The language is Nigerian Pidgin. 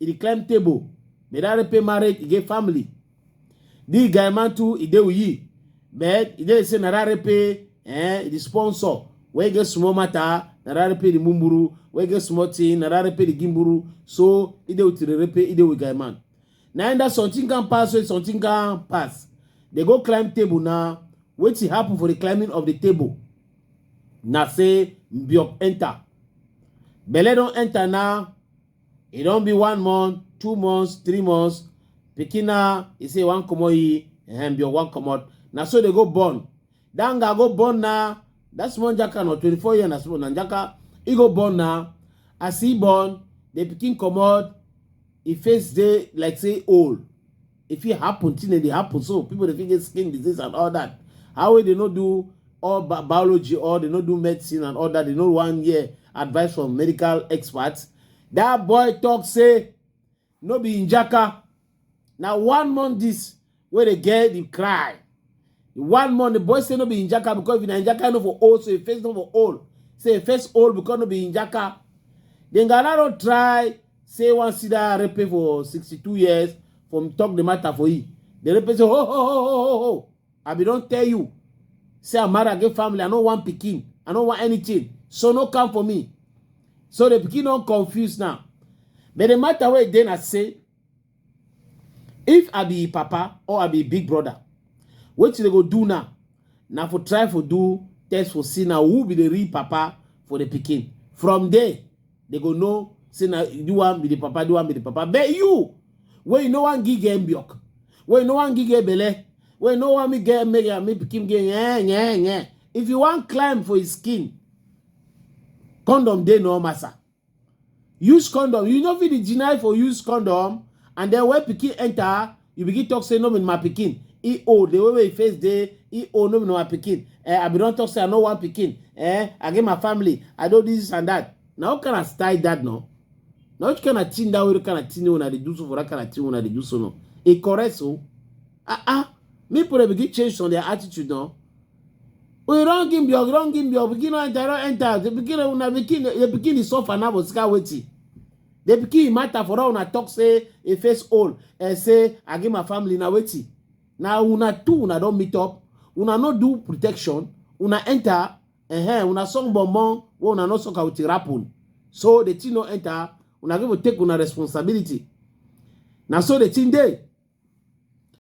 e dey climb table but that repair marriage e get family the guy man too e dey uyi but e dey say na that repair eh e dey sponsor wey get small matter na that repair the mumburu wey get small thing na that repair the gimburu so e dey with the repair e dey with guy man na in that something can pass wey something can pass dey go climb table na wetin happen for the climbing of the table na say mbiop enter belle don enter na e don be one month two months three months pikin na e say e wan comot e ehem bio wan comot na so dey go born that guy go born na that small jaka na twenty four year na small na jaka e go born na as e born the pikin comot e face dey like say old If it happen, thing they happen. So people they get skin disease and all that. How will they not do all bi biology or they not do medicine and all that? They know one year advice from medical experts. That boy talk say no be in Jaka. Now one month this where they get the cry. One month the boy say no be in Jaka because if in Jaka no for all, so he face no for all. Say he face all because no be in Jaka. Then Galaro try Say one sida rape for 62 years from talk the matter for you. The rape say, ho, ho, ho, ho, ho, ho. I be don't tell you. Say I'm married, I get family, I no want pikin, I no want anything. So no come for me. So the pikin don't confuse now. But the matter where then I say, if i be im papa or i be im big brother wetin dem go do now na for try for do test for see na who be the real papa for the pikin from there dem go know say na the one be the papa the one be the papa but you wey you no wan give girl milk wey you no wan give girl belle wey you no wan make girl make am make pikin get yeah yeah yeah if you wan climb for his skin condom dey no massa use condom you no fit dey deny for use condom and then when pikin enter you begin talk say no be my pikin e old the way wey e face dey e old no be my pikin eh i bin don talk say i no want pikin eh i get my family i do this and that na what kind of style that no na which kind of thing that wey kind of thing wey una dey do so for that kind of thing wey una dey do so no e correct so ah ah make people dey begin change some their attitude no we don give your don give your pikin no enter no enter the pikin una pikin the pikin dey suffer now for sika wetin the pikin matter for all una talk say e face old and eh, say i give my family na wetin na una two una don meet up una no do protection una enter eh, una song bonbon wey una no suck out rapun so the thing no enter una go take una responsibility na so the thing dey